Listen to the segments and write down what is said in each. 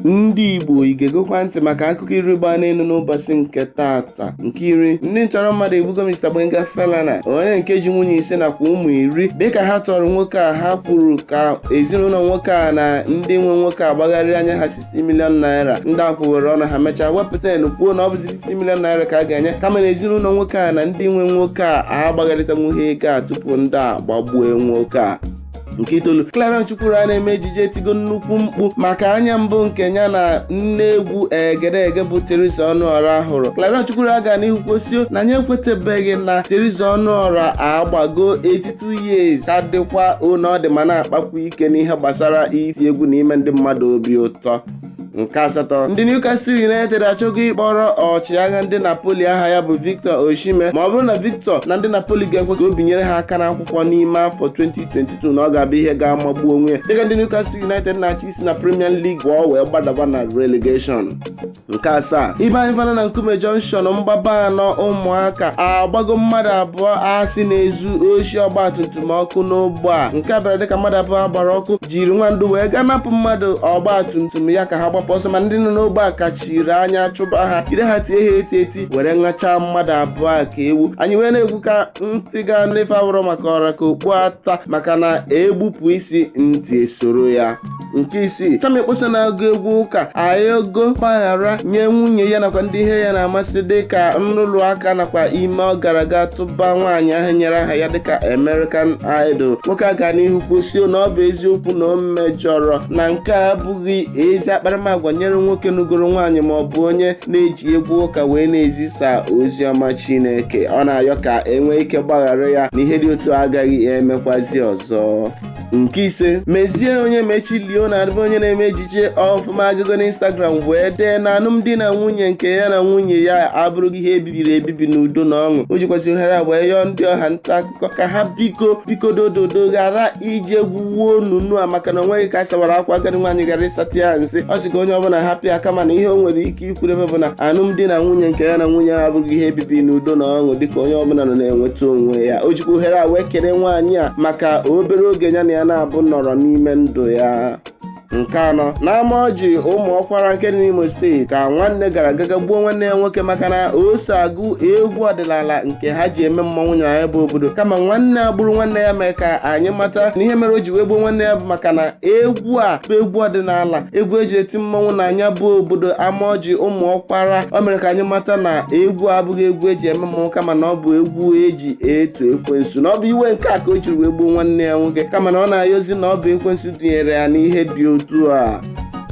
ndị igbo ị ga-egekwa ntị maka akụkọ iri gbaa n'elu n'ụbọchị nke tata nke iri ndị ntọrọ mmadụ egbugo Mr Gbenga Falana onye nke ji nwunye ise nakwa ụmụ iri dịka ha tọrọ nwoke a ha kwuru ka ezinụlọ nwoke a na ndị nwe nwoke a gbagharịa nye ha 60 million naira ndị a kwuwere ọnụ ha mechaa wepụ ten kwuo na ọ bụzi 50 million naira ka a ga-enye kama na ezinụlọ nwoke a na ndị nwe nwoke a agbagharịtanwughị ego a tupu ndị a gbagbue nwoke a nke itoolu Clarion Chukwura na-eme ejije etigo nnukwu mkpu maka anya mbụ nke ya na nne egwu egedege bụ Teresa Ọnụọra hụrụ Clarion Chukwura gaa n'ihu kwusio na ya ekwetebeghị na Teresa Ọnụọra agbago 82 years ka dịkwa otu ọ dị ma na-akpakwu ike n'ihe gbasara iti egwu na ime ndị mmadụ obi ụtọ nke asatọ ndị Newcastle United achọgo ịkpọrọ ọchịagha ndị Napoli aha ya bụ Victor Osimhen ma ọ bụrụ na Victor na ndị Napoli ga-ekwe ka o binyere ha aka n'akwụkwọ n'ime afọ 2022 na ọ ga-abụ ihe ga-amagbu onwe dịka ndị Newcastle United na-achọ isi na Premier League ọ wee gbadaba na relegation nke asaa ibe anyị fana na Nkume Junction mgbaba anọ ụmụaka agbago mmadụ abụọ a sị na-ezu oshi ọgbatumtum ọkụ n'ogbe a nke a bịara dịka mmadụ abụọ a gbara ọkụ jiri nwa ndụ wee gaa napụ mmadụ ọgba tum tum ya ka ha gbapụ ọsọ ma ndị nọ n'ogbe a kachiri anya chụba ha jide ha tie ha eti eti were ṅachaa mmadụ abụọ a ka ewu anyị wee na-ekwu ka ntị ga-anụ ife awụrọ maka ọ ra ka okpu ata maka na e gbupụ isi ntị esoro ya nke isii Sammie Okposo na-agụ egwu ụka ayọgo mgbaghara nye nwunye ya nakwa ndị ihe ya na-amasị dị ka nrụrụ aka nakwa ime ọ gara aga tụba ba nwaanyị ahụ nyere aha ya dịka American Idol nwoke a gaa n'ihu kwusio na ọ bụ eziokwu na o mejọrọ na nke a abụghị ezi akparamagwa nyere nwoke nụgoro nwaanyị ma ọ bụ onye na-eji egwu ụka wee na-ezisa ozi ọma Chineke ọ na-ayọ ka e nwee ike gbaghara ya na ihe dị otu a agaghị emekwazi ọzọ nke ise mezie onyemachi leonard bụ onye na-eme ejije ọfụma agago na instagram wee dee na alụmdi na nwunye nke ya na nwunye ya abụrụgo ihe ebibiri ebibi n'udo na ọṅụ o jikwazị ohere a wee yọọ ndị ọha nta akụkọ ka ha biko biko dododo ghara ije gwuwe onunu a maka na o nweghị ka a sawara akwa agadi nwaanyị ghara ịsata ya nsị ọ sị ka onye ọbụla hapụ ya kama na ihe o nwere ike ke ikwuru ebe a bụ na alụmdi na nwunye nke ya na nwunye ya abụgo ihe ebibi n'udo na ọṅụ dịka onye ọbụla nọ na-enweta onwe ya o jikwa ohere a wee kene nwaanyị a maka obere oge ya na ya naabọ nọrọ n'ime ndụ ya nke anọ n'ama ọjị ụmụ ọkwara nke dị n'imo steeti ka nwanne gara aga gbuo nwanne ya nwoke maka na o so agụ egwu ọdịnala nke ha ji eme mmọnwụ na ya bụ obodo kama nwanne a gburu nwanne ya mere ka anyị mata na ihe mere o ji wee gbuo nwanne ya bụ maka na egwu a bụ egwu ọdịnala egwu eji eti mmọnwụ na nya bụ obodo amaọjị ụmụ ọkwara o mere ka anyị mata na egwu abụghị egwu eji eme mmọnwụ kama na ọ bụ egwu eji eto ekwensu na ọ bụ iwe nke a ka o jiri wee gbuo nwanne ya nwoke kama na ọ na-ayọzi na ọ bụ ekwensu tinyere ya n'ihe dị otu a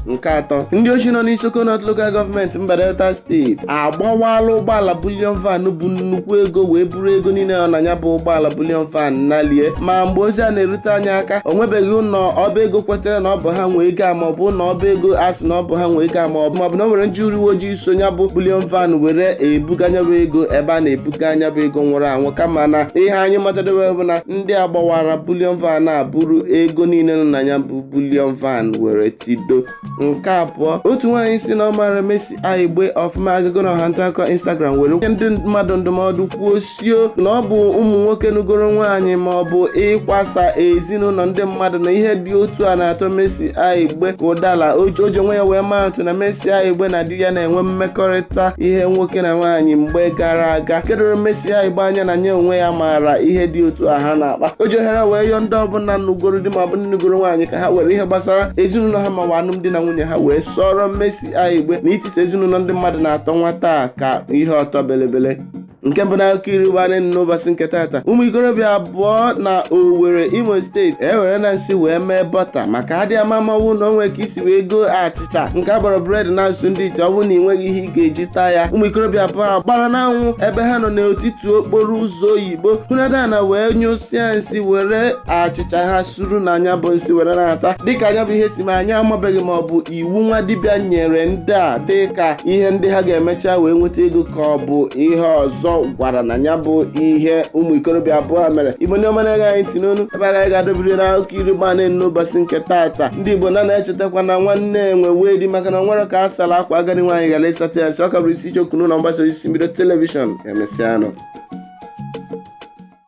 nke atọ ndị ochi nọ n'Isoko North Local Government mba Delta steeti agbawala ụgbọala bullion van bu nnukwu ego wee buru ego niile nọ na ya bụ ụgbọala bullion van nalie ma mgbe ozi a na-erute anyị aka o nwebeghị ụlọ ọba ego kwetere na ọ bụ ha nwe ego a ma ọ bụ ụlọ ọba ego a sị na ọ bụ ha nwe ego a ma ọ bụ ma ọ bụ na o nwere ndị uwe ojii so ya bụ bullion van were ebuga nya bụ ego ebe a na-ebuga nya bụ ego nwụrụ anwụ kama na ihe anyị matadobe bụ na ndị a gbawara bullion van a buru ego niile nọ na ya bụ bullion van were tido nke abụọ otu nwaanyị sị na ọ maara Mercy Aigbe ọfụma agago na ọha nta akụkọ Instagram were nye ndị mmadụ ndụmọdụ kwuo sio na ọ bụ ụmụ nwoke nụgoro nwaanyị ma ọ bụ ịkwasa ezinụlọ ndị mmadụ na ihe dị otu a na-atọ Mercy Aigbe ka ụdala o ji onwe ya wee maa atụ na Mercy Aigbe na di ya na-enwe mmekọrịta ihe nwoke na nwaanyị mgbe gara aga nke doro Mercy Aigbe anya na nya onwe ya maara ihe dị otu a ha na-akpa o ji ohere wee yọọ ndị ọbụla nụgoro di ma ọ bụ ndị nụgoro nwaanyị ka ha were ihe gbasara ezinụlọ ha mawa alụmdi na nwunye ha wee sọọrọ Mercy Aigbe na itisa ezinụlọ ndị mmadụ na-atọ nwata a ka ihe ọtọ belebele nke mbụ na akụkọ iri gbarị n'ụbọchị nke taata ụmụ ikorobịa abụọ na Owerri Imo steeti ewerena nsị wee mee bọta maka adị ama ama na o nwe ka i si wee goo achịcha nke a kpọrọ bread na asụ ndị ite ọ bụrụ na ị nweghị ihe ị ga-eji taa ya ụmụ ikorobịa abụọ a gbara n'anwụ ebe ha nọ n'etiti okporo ụzọ oyibo hunata ana wee nyụsịa nsị were achịcha ha suru na nya bụ nsị were na-ata dịka nya bụ ihe si mee anyị amabeghị ma ọ bụ iwu nwa dibịa nyere ndị a dị ka ihe ndị ha ga-emecha wee nweta ego ka ọ bụ ihe ọzọ gwara na ya bụ ihe ụmụ ikorobịa abụọ mere igbo ndị ọma na-ege anyị ntị n'ụnọ ebe a ka anyị ga-adọbiri na akụkọ iri gba na n'ụbọchị nke taata ndị igbo na na-echetakwa na nwanne enwe wee di maka na o nwere ka a sara akwa agadi nwaanyị gara ịsata ya si ọ ka bụrụ Izuchukwu n'ụlọ mgbasa ozi mbido telivishọn emesịanụ